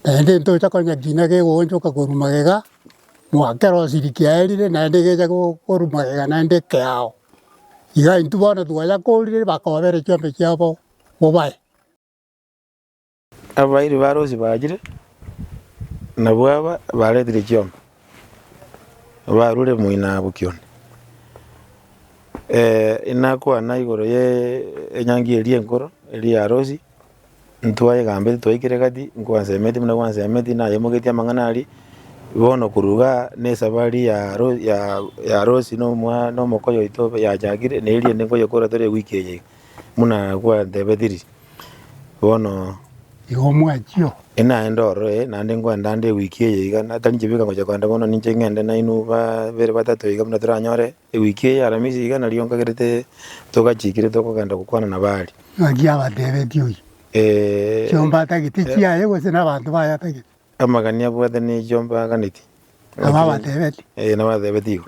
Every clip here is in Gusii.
Naende intocha konya kiina kegoonchoka korwa magega goa kerosiri kiaerire naende gecha korwa magega naende ekeao. Iga intwe bono twayakorire bakobera chiombe chiabo bobae. Abairi ba Rosi bachire, nabwo aba baretire chiombe barure moinaabo kione. Inakwana igoro ye enyangi eria enkoro eria ya Rosi. Ntwayegambetie twaikire gati, nkwansemetie buna gwansemetie, nayemoketie amang'ana aria. Bono korwa iga nesabari ya Ro- ya- ya Rosi na omwa- na omokoyo oito yachakire, na eria ende nkoyekora tore ewiki eye iga, buna gwantebetie riria. Bono. Igo mwachio? Naende ororo ee, naende nkoenda ande ewiki eye iga, na tari nchebeka ngocha koenda bono ninche ng'ende nainwe babere batato iga buna toranyore Ewiki eye y'Aramisi iga nario nkagerete togachiikire tokogenda gokwana na Baali. Naki abateebeti oyio, Chiomba atagete chiaye, gose nabaanto baye atagete? Amagani abwate ne chiomba aganeti. Nabo abateebeti? Ee, nabateebeti igo.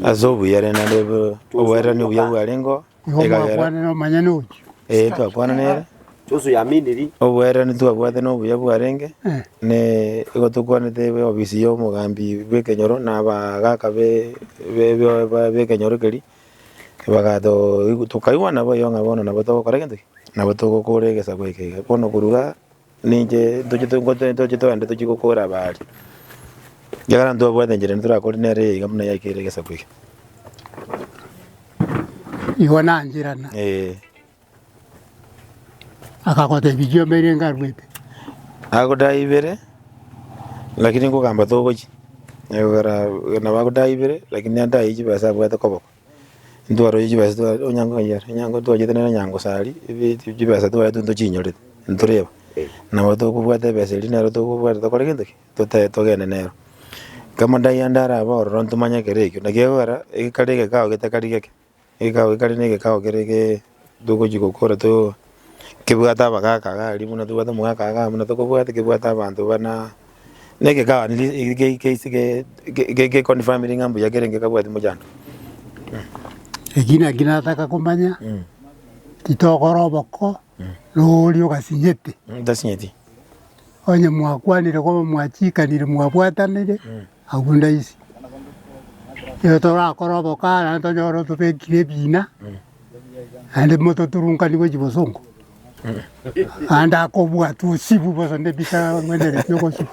Ase obuya rende nareebe oboererania obuya bwarengeo. Nigo Egagera. mwakwanire omonyene oyio. Ee, twakwana nere. Chionso yaminiri. Obwererani twabwate na obuya bwarenge, Eh. ne igo tokwanete eofisi ya omogambi bw'ekenyoro na abagaaka be- be- be- be- b'ekenyoro keria, bagato tokaigwana boigo ng'a bono nabo togokora egento ki? Nabo togokora egesaku eke iga. Bono korwa igaa. Ninche ntoche togotoe ntoche twande tochie gokora aba aria. Ekiagera ntwabwate enchera eria torakore nere eye iga buna yaikeire egesaku eke. Igo nancherana. Ee. Akagotebi chiomba eria nkarwete. Agodae ibere, lakini nkogamba togochi. Egokera nabo agodae ibere, lakini andae chibesa abwate koboko. ntwarorire chibesa twa onye nkoiya onye nko twachete nere onye ngosari ebi ebi chibesa twaete ntochinyore ntoreba nabo tokobwata ebesa eria nero tokobwata tokore gento ki? Totae togende nero. Kama ndaiya ndare abwo ororo ntomanye ekero ekio naki ekogera ekare egekao getakari geke, egekao ekare na egekao kere gee togochi gokora too kebwate abagaka iga aria buna tobwate omogaka iga abana tokobwate kebwate abanto bana na egekaa riria eri ge- ge- ase ge- ge- ge- geconfirmire ng'a mbuya kerenge kabwati mochando mh. Eki naki nataka komanya, Mh, titokora oboko na oria ogasinyete, mh, ntasinyeti. onye mwakwanire koba mwachiikanire mwabwatanire, Agwo ndaise, nigo torakore obokare naende tonyore otobekire ebina, naende mototurunkani gwe chibosongo, naende akobua tosibu bosa nebisa ang'wenereti ogosibu.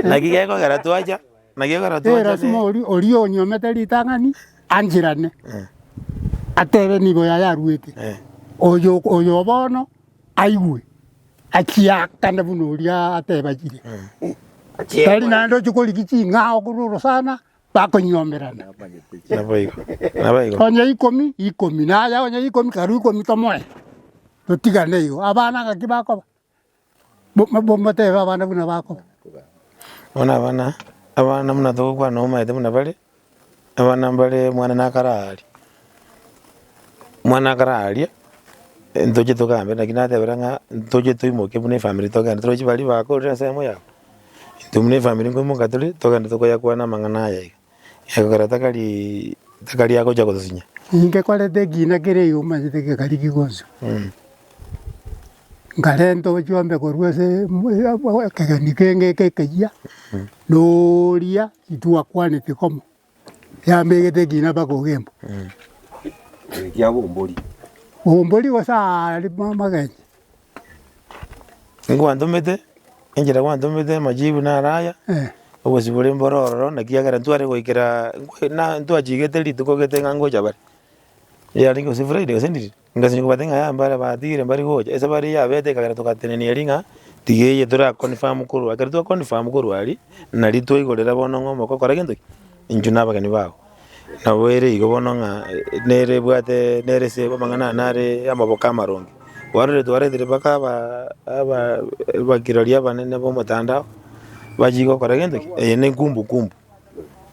Naki gekogera twacha, naki gekogera twacha Erasima ne- oria oria onyuomete ritang'ani anchirane, atebe nigo yayaruete, oyo oyo bono. aigwe, achiakane buna oria atebagire, tari naende ochia korigia ching'ao korwa orosana, bakonyiomerana. Naboigo, naboigo. Onye ikomi, ikomi, naye onye ikomi, karue ikomi tomoe, totigane igo. Abana ng'aki bakoba? Bo- bo- motebe abana buna bakoba. Bono abana, abana buna togokwana omaete buna bare. Abana mbare mwane na akare aaria, mwane akare aaria, ntoche togambe naki natebire ng'a ntoche toimoke buna efamiri togende toroche baria bakorire ensemo yabo, intwe buna efamiri nkoimoka tore togende tokoyakwana amang'ana aya iga, egekogera takariiii takari agocha gotosinya. Ingekorete ekina kere iga omanyete gekari kigocha, nkarenta ochiombe korwa ase ekegeni kenge ekeyia na oria. Intwe gwakwanete komo, yambegete ekina mpaka ogembo. Ekiagera ombori. Ombori gose aare amagencho. Nkwantomete, enchera kwantomete amajibu naro aya, obosio bore mboro ororo, naki ekiagera ntware goikera, na ntwachigete rituko gete ng'a ngocha bare. Yarenge gose Friday gose ndiri. Ngasenya kobate ng'a yaya mbare batiire mbari gocha, ase bare yabete ekagera togatenenia eeri ng'a tiga eye tora confirm korwa ekero twa confirm korwa aria, nari twaigorera bono ng'a omoko kora gento ki? Inchu na abageni bago. Nabo ere igo bono ng'a nere ebwate nere ase amang'ana ane are amaboko amaronge. Kwarorire twaretire mpaka aba aba abakirori abanene b'omotandao, bachie gokora gento ki? Eye ne kumbu kumbu,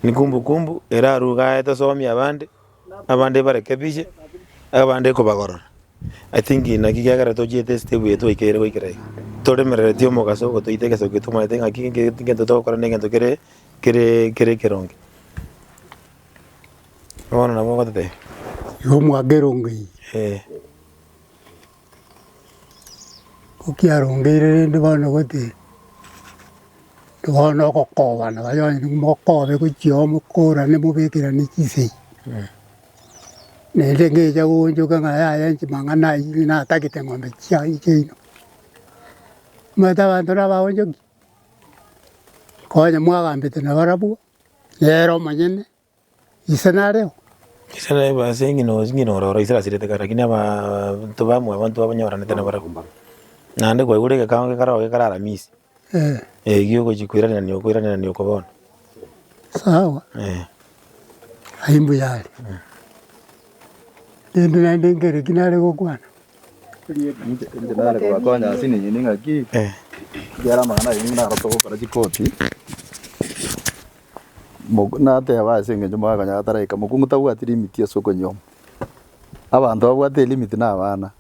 ne kumbu kumbu erarwe igaa tosomi abande. Abande bareke biche, abande kobagarora. I think naki kiagera tochiete esite buya twaikaire goikera iga. Toremerereti omogaso ogotoita egesaku eke twamanyete ngaki ege egento togokora ne egento kere kere kere ekeronge. Bono nabo ogototebia. Igo mwaka erongo eye. Eeh. Kokiarongeire rende bono gotee, intwe bono ogokobana baria onye mokobe gochia oo mokorane mobekerane chisegi. Naende ngecha goonchoka ng'a yaya chimang'ana aywo natagete ng'ombe chiaye chiaino. Omanyete abanto nabo abaonchoki, onye mwagambete nabarabwo, nere omonyene. Ise nareo? Ise nare bo ase eng'ina o ng'ina ore oro, ise rasirete kare, lakini abanto bamwe abanto babanyoranete nabarabwo. Naende kwaigure egekango gekare oo gekare Aramisi, Eh, eh, giogochia koiranania oko koiranania oko bono. sawa, Eh. ayio mbuya are. Rende naende nkere ki nare gokwana? Inche nare kobakonya ase eng'encho ning'aki, Eh. ekiagera amang'ana aye nigo narokire gokora chikoti. Moku- nateba ase engencho morakonyora ataraika, mokungu tabwati limiti ase okonyioma. Abanto babwate elimiti na abana,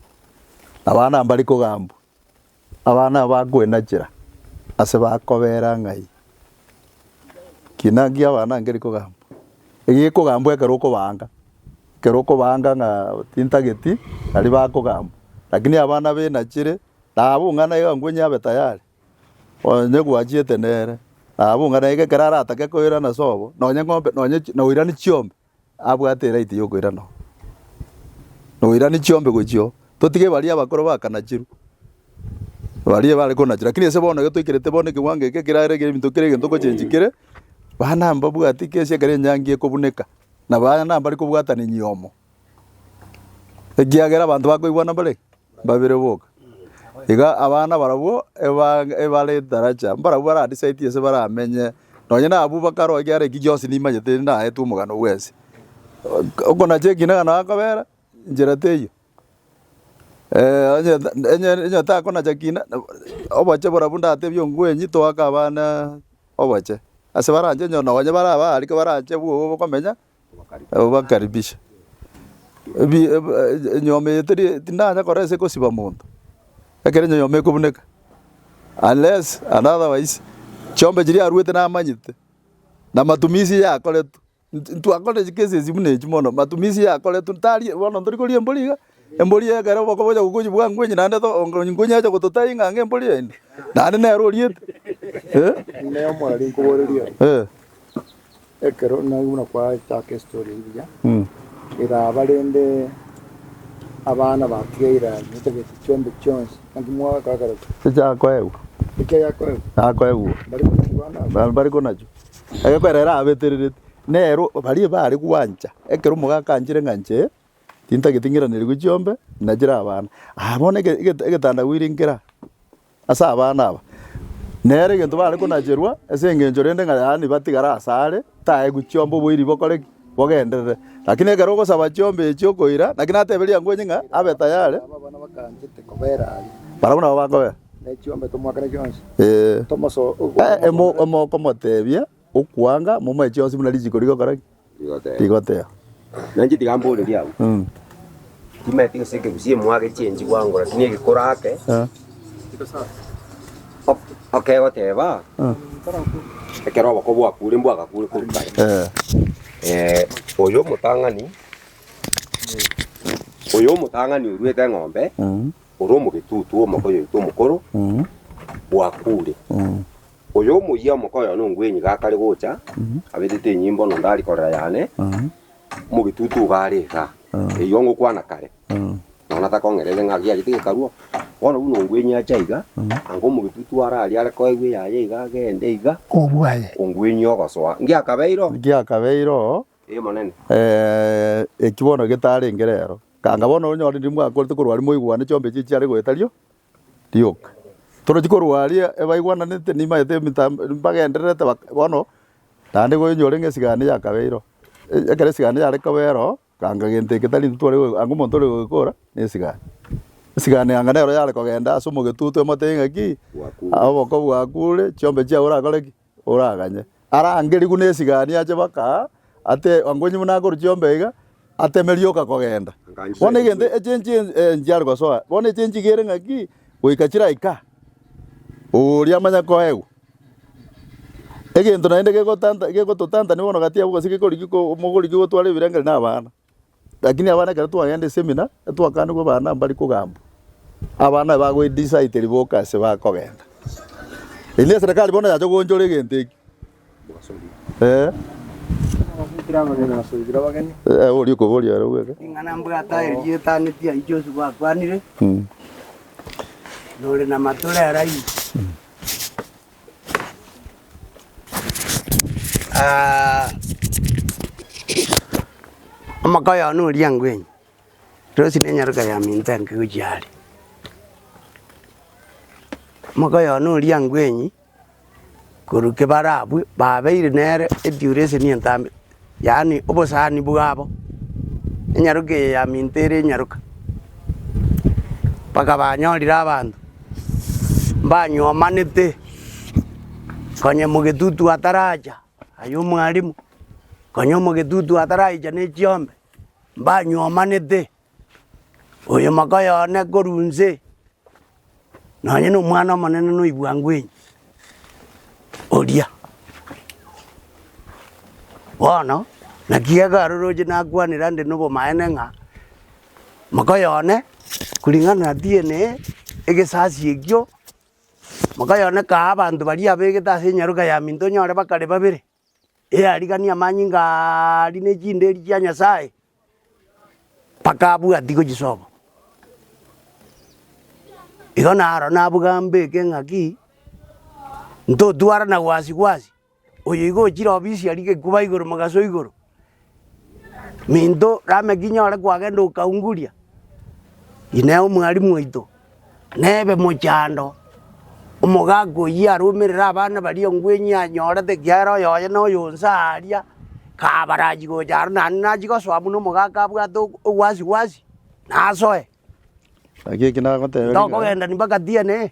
abana mbari kogambwa, abana bakoenachera ase bakobera ng'ai ki naki abana nkeri kogambwa. Egekogambwa ekero okobaanga, ekero okobaanga ng'a tintageti, nari bakogambwa, lakini abana benachire, nabo ng'a naye ng'a nkwenye abe tayari, Onye gwachiete nere, nabo ng'a naende ekero aratake koirana ase obo, nonye ng'ombe nonye chi noirani chiombe, abwate eraiti yokoirana oo. Noirani chiombe gochia oo, totige baria abakoro bakanachirwe, baria bare konachirwa lakini ase bono iga toikerete bono ekewango eke kerare kere ebinto kere egento ogochengi kere, bana mbabwati kesi ekero enyangi ekobuneka, na bana mbari kobwatana enyomo. ekiagera abanto bakoigwana mbare mbabere boka. Iga abana barabwo eba- ebare etaracha, mbarabwo bara decide ense baramenye, nonye na abwo bakare ekiagera eki gionsi nimanyete naetwe omogano bwensi. Okonacha ekina ekero nakobera, nchera teiyo. onye onye onye takonacha kina, oboche borabwo ndatebie omgweny toake abana oboche. Ase baranche onye nonye bare abare ariko barache bwogo bokomenya. Obakaribishe. Ebi, eb, e- enyomba eye teri, tindanya kora ase gosiba monto, ekero enyonyomba ekobuneka, unless and otherwise chiombe chiria aruete namanyete, na matumisi yakoretwe. Int- intwakorire chicases buna echio mono, matumisi yakoretwe, ntari bono ntori koria embori iga. Embori eye ekero bakobocha gokochi bwa ngwenyi naende ngwenyi ache gototebia ng'a anga embori ende, naende nere oriete. Inee mwarari nkoboreria aya? Ekero nari buna kwachaka estory eye buya, eraba rende abana batiga irani batabeti chiombe chionsi, naki mwagakorakera ki? Echa akoegwa. Echa yakoegwa? Akoegwa. Mbari konachi bana abwo? Ba- bari konachi. Ekero erabetererete, nere baria baare gwancha, ekero omogaaka anchire ng'a inche Tintageti ng'iranerigwe chiombe na chire abana aa bono ege ege egetanda goire nkera ase abana aba. Nere egento bare konacherwa ase engencho rende ng'a yaani batigare ase are taegwe chiombe oboiri bokore ki? Bogenderere. Lakini ekero ogosaba chiombe echio okoira naki natebe riango inye ng'a abe tayari. Barabwo nabo bakobera. Ee. Ee emo okomotebia. Okwanga momoechi onsi buna richiko rigokora ki? Rigotea. Nainche tiga mborerie abwo. Mm. Timaeti gose ekegusi emwage echienchi bwango lakini egekoro ake Eh. ok- okegoteba Mm. ekero oboko bwakure mbwa agakure koru kare Eh. Eh, oyo omotang'ani oyo omotang'ani oruete eng'ombe Mm. ore omogetutu omoko oyoito omokoro Mm. bwakure Mm. Oyo omoyia omokoyo nongwenyi gakare gocha, abetete enyimbo nondo aria korera yane, omogetutu iga are iga, eyio ngokwana kare, nonya takong'erere ng'a giachete gekaruo, bono buna ongwenyi ache aiga, anga omogetutu are aria are koegwa eyaye iga agende iga, Obwaye. ongwenyi ogosoa. Ngiakabeire oo? Ngiakabeire oo? Ee, Monene. Ee, eki bono getarenge rero. Anga bono onyore ndiri mwakorete korwa aria moigwane chiombee chiria chiare goetario, Rioka. Toroche korwa aria ebaigwananete nibaete emitambo nibagendererete bono naende koinywa orenge esigani yakabeireo. Ekero esigani yare kobereo ganga gento eke tari intwe tware anga omonto ore goikora na esigani. Esigani anga nero yare kogenda ase omogetutu emote ng'a ki, oboko bwakure, chiombe chiao orakore ki. oraganye. Arangerigwe nesigani ache baka ate angonyi buna akoru chiombe iga, ateme rioka kogenda. Bono egento echenchi enchiare gosoa, bono echenchi iga ere ng'aki goika chiraika oria amanye koegwa. Egento naende gegotanta gegototantani bono gati yabo gose gekori giko mogori gigotwara ebirengererio na abana. Lakini abana ekero twagenda esemina, etwakaanigwa abana mbari kogambwa, abana bagoedisaiteri boka ase bakogenda. Eyi neserekari bono yacha goonchora egento eki. Eh. Eh, oria okoboria ere bweka. Ing'ana mbwate aye rietanetie ayio chionsi gwakwanire, Mm. nore na amato rera ayio. Ah, omaka oyogo na oriango enyi, erosi na enyaroka ya minto enke gochia are. Omaka oyogo na oriango enyi, korwa kebara abwo, babeire nere eduration entambe yaani obosani bwabo, enyaroka eye ya minto ere enyaroka, mpaka banyorire abanto mbanywomanete konya mogetutu ataracha aye omwalimu, konya omogetutu ataraicha ne chiombe, mbanywomanete. Oyo mogoyo one korwa inse, nonye nomwana omonene noigwa ngwenyi, oria. Bono naki iga aroroche nakwanire ande nobomaene ng'a mogoyo one kuring'ana na tiene egesasi ekio, mogoyo one kae abanto baria abegete ase enyaroka ya minto onyore bakare babere. erariganie amanyinga aria ne chinderi chia Nyasae, mpaka abwati gochisoka. Igo naro nabuga mbeke ng'a ki, ntotwarana gwasi gwasi, oyoigo ochire obisia rigekuba igoro mogaso igoro. Minto Lameki nyore kwagenda okaunguria, Inee omwarimu oito, nebe mochando, omogaka oyio arumerere abana baria engweng'ia anyorete ekiagera oyoye na oyo onsi aaria, kabarachi gocha aro naende nachi gosoa buna omogaka abwate o- owasi wasi, nasoe. Naki eke nagoteba. Tokogenda mpaka tienee.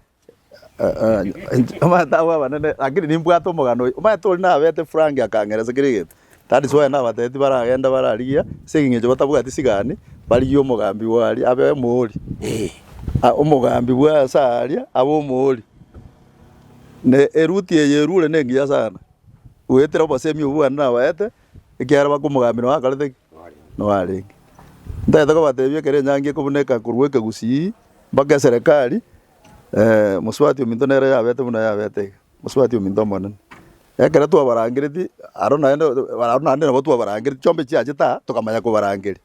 Omanyete abwo abanene, lakini nimbwate omogano oyo. Omanyete oria nabete frank akang'era ase kera egento. That is why nabatebeti baragende bararigia, ase eng'encho batabwati sigani, barigie omogambi bwa aria abe omoori. Ah omogambi bwa ase aria abe omoori. Na eruti eye erure nengiya sana, goetera obosemi obwo bwane nabaete, ekiagera baka omogambi noakorete ki? Noarenge. Ntaete kobatebia ekero enyangi ekobuneka korwa ekegusii. Mpaka eserekari, ee, mosubati ominto nere yabete buna yabete iga, mosubati ominto omonene. Ekero twabarangereti aro naende aro naende nabo twabarangereti chiombe chiachete aa tokamanya kobarangeria.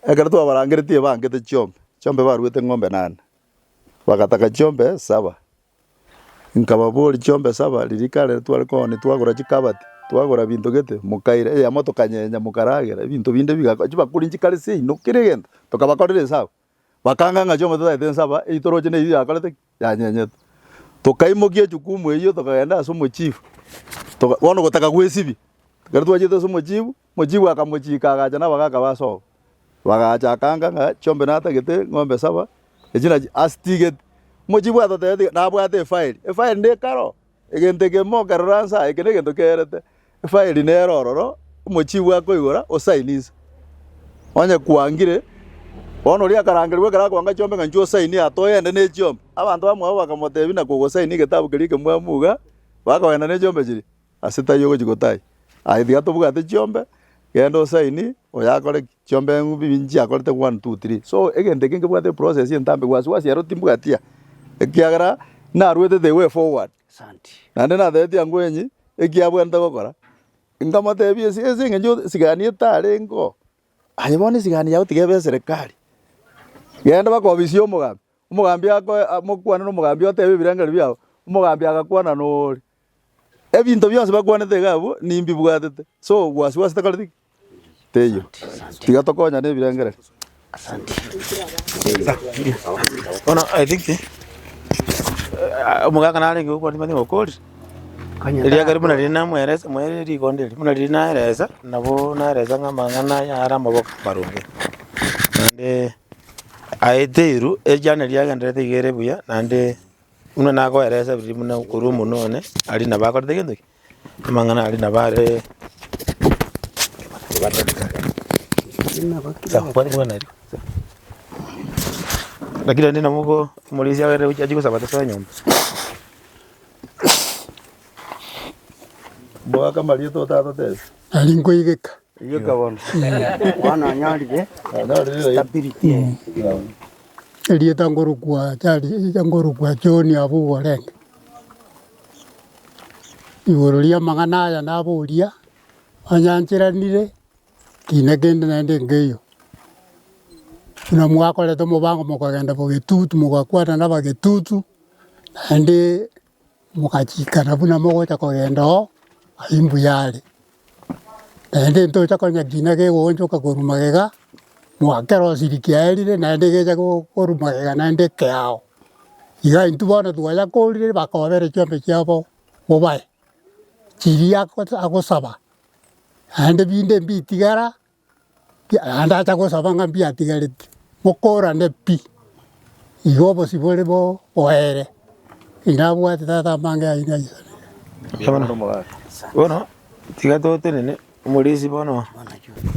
Ekero twabarangereti ebangete chiombe, chiombe baruete ng'ombe nane, bagataka chiombe saba, nkababoria chiombe saba riria kare riria tware kogania twagora chikabati, twagora binto gete, mokaira eyemo tokanyenya mokaragera, ebinto binde biga chibakuri nchikarisie inwe kera egento, tokabakorera esabu. Bakanga ng'a chiombe totagete ensaba eyio toroche neyio yakorete ki? Yanyenyete. Tokaimokia echukumu eyio tokagenda ase omochifu, toka bono gotaka gwesibia. Ekero twachete ase omochifu, omochifu akamochika agacha nabagaka ba sogo, bagacha akanga ng'a chiombe natagete eng'ombe saba, echi nachi asitigete. Omochifu atotebeti nabwate efairi, efairi nekaro. Egento eke mokerora nsa, eke negento keerete efairi nere ororo omochibi akoigora osaini nsa. Onye kwangire, bono oria akarangerigwe ekero akoanga chiombe ng'a inchuo osaini aa toyende ne chiombe. Abanto bamwabo bakamotebi na kogosaini egetabu keria ekemwamu iga, bakogenda ne chiombe chiria, ase taiyo ogochi gotaiyo. Aye tiga tobwate chiombe, genda osaini, oyo akore ki? chiombengu bibi nchiakorete one, two, three. So egento eke nkebwate eprocess entambe wasi wasi ero timbwati aa, ekiagera narwete the way forward. Naende natebetie angwenyi eki abwenerete gokora, nkamotebia ase ase eng'encho esigani etarenge oo, aye bono esigani yago tiga ebe eserekari. Genda bakobisie omogambi, omogambi akoe mokwane na omogambi otebe ebirengererio biago, omogambi agakwana na oria. Ebinto bionsi bakwanete iga abwo nimbibwatete. So obwasi bwase tekoreti ki? Teiyo. Tiga tokonyane ebirengererio. Bono I think eh, omogaka narenge gokwandia mani gokoria eriage riria buna riria namweresa mwerire rigonda erio buna riria naeresa nabo naeresa ng'a amang'ana aya are amaboko amaronge. Naende aye teiru ekiagera neriagendererete iga ere buya naende. Buna nagoeresa riria buna korwa omonu one aria nabo akorete gento ki? Amang'ana aria nabo aree lakini rende nabo ogo omorisia agere gochia achie gosaba tosoe nyomba. Mboaka marieta otatotebi. Nari nkoigeka. Erieta nkorokwa Charles, nkorokwa John abwo orenge igoro ri'amang'ana aya naboria, Mwanyancheranire kina kende naende nkeiyo, buna mwakorete omobango mokagenda Bogetutu mogakwana n'Abagetutu naende. Mogachiikana buna mogocha kogenda oo aye mbuya are, naende ntocha konya kina kegoonchoka korwa magega, ng'a kerosiri kiaerire naende gecha korwa magega naende keao. Iga intwe bono twayakorire bakobera chiombe chiabo bobae, chiria ago agosaba, naende binde mbitigara. Ndacha gosaba ng'a mbiatigareti, mokorane pi, igo obosio bore bo boere, inabwate tata amange aino aisabire. Bono tiga totenene omorisia bono,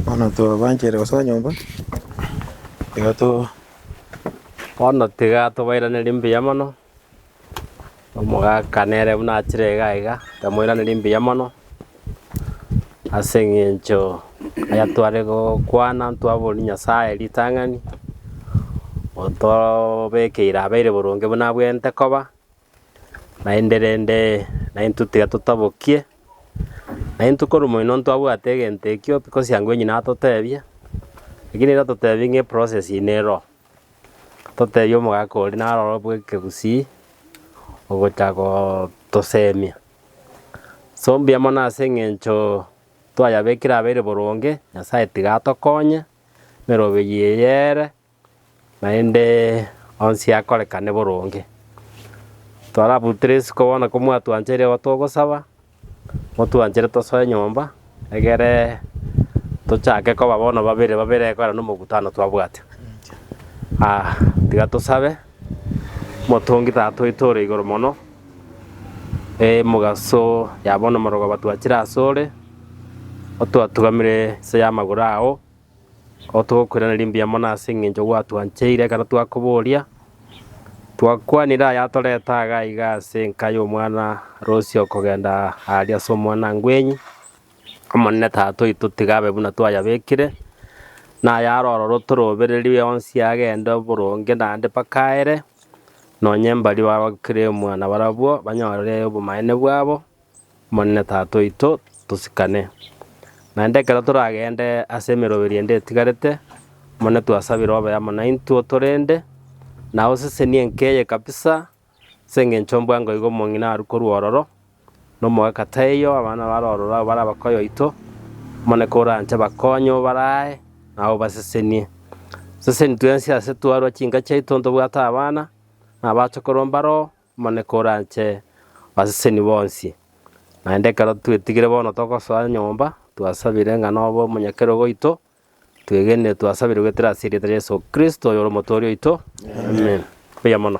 bono tobanchere gosoa nyomba, iga to. Bono tiga tobairanerie mbuya mono, Omogaka nere buna achire iga iga, nkamoiraneria mbuya mono, ase eng'encho aya tware gokwana ntwaboria Nyasaye ritang'ani, otobekeire abeire boronge buna abwenerete koba, naende rende naintwe tiga totabokie, naintwe korwa moino ntwabwate egento ekio, bikosi ango enyene atotebie, lakini nigo totebi ng'a eprocess eye nero. Totebie omogaka oria naroro bw'ekegusii ogocha gotoseemia. Ase ombuya mono ase eng'encho twayabekire abeire boronge, Nyasaye tiga atokonye, emerogo eyio eye ere, naende onsi akorekane boronge. Twarabutere isiko bono ko mwatwancheire igo togosaba, motwanchere tosoe nyomba, egere tochake koba bono babere babere ekeene nomogutano twabwate. Aa tiga tosabe, motongi tata oito ore igoro mono, emogaso ya bono omorero ogo twachire asore, otwatugamire inse y'amagoro ao. Otogokwena rimbe mono ase engencho gwatwancheire ekero twakoboria, twakwanire ayatorete aga iga ase enka y'omwana Rosie okogenda aaria ase omwanangwenyi. Omonene Tata oito tiga abe buna twayabekire, na ayare ororo tore obereri onsi agende oboronge naende mpaka aere, nonye mbaria bagokire omwana barabwo, banyore obomaene bwabo. Omonene Tata oito, tosikane. Naende ekero toragende ase emeroberi ende etigarete, Omonene twasabire obe amo naintwe otorende, na osesenie enka eye kabisa, ase engencho mbwa ng'a igo omong'ina arwe korwa ororo, na omogaka taiyo, abana bare ororo abwo bare abakoyo oito, Omonene koranche bakonye obare aye, naye obasesenie. Seseni twensi ase twarwa chinka chiaito ntobwate abana, na abachokoro mbaro. Omoneke oranche abaseseni bonsi. Naende ekero twetigire bono togosoa nyomba, twasabire ng'a nobe omonyakerogo oito, twegenire twasabire goetera ase erieta ria Yeso Kristo, oyore Omotooria oito. Amen. Mbuya mono.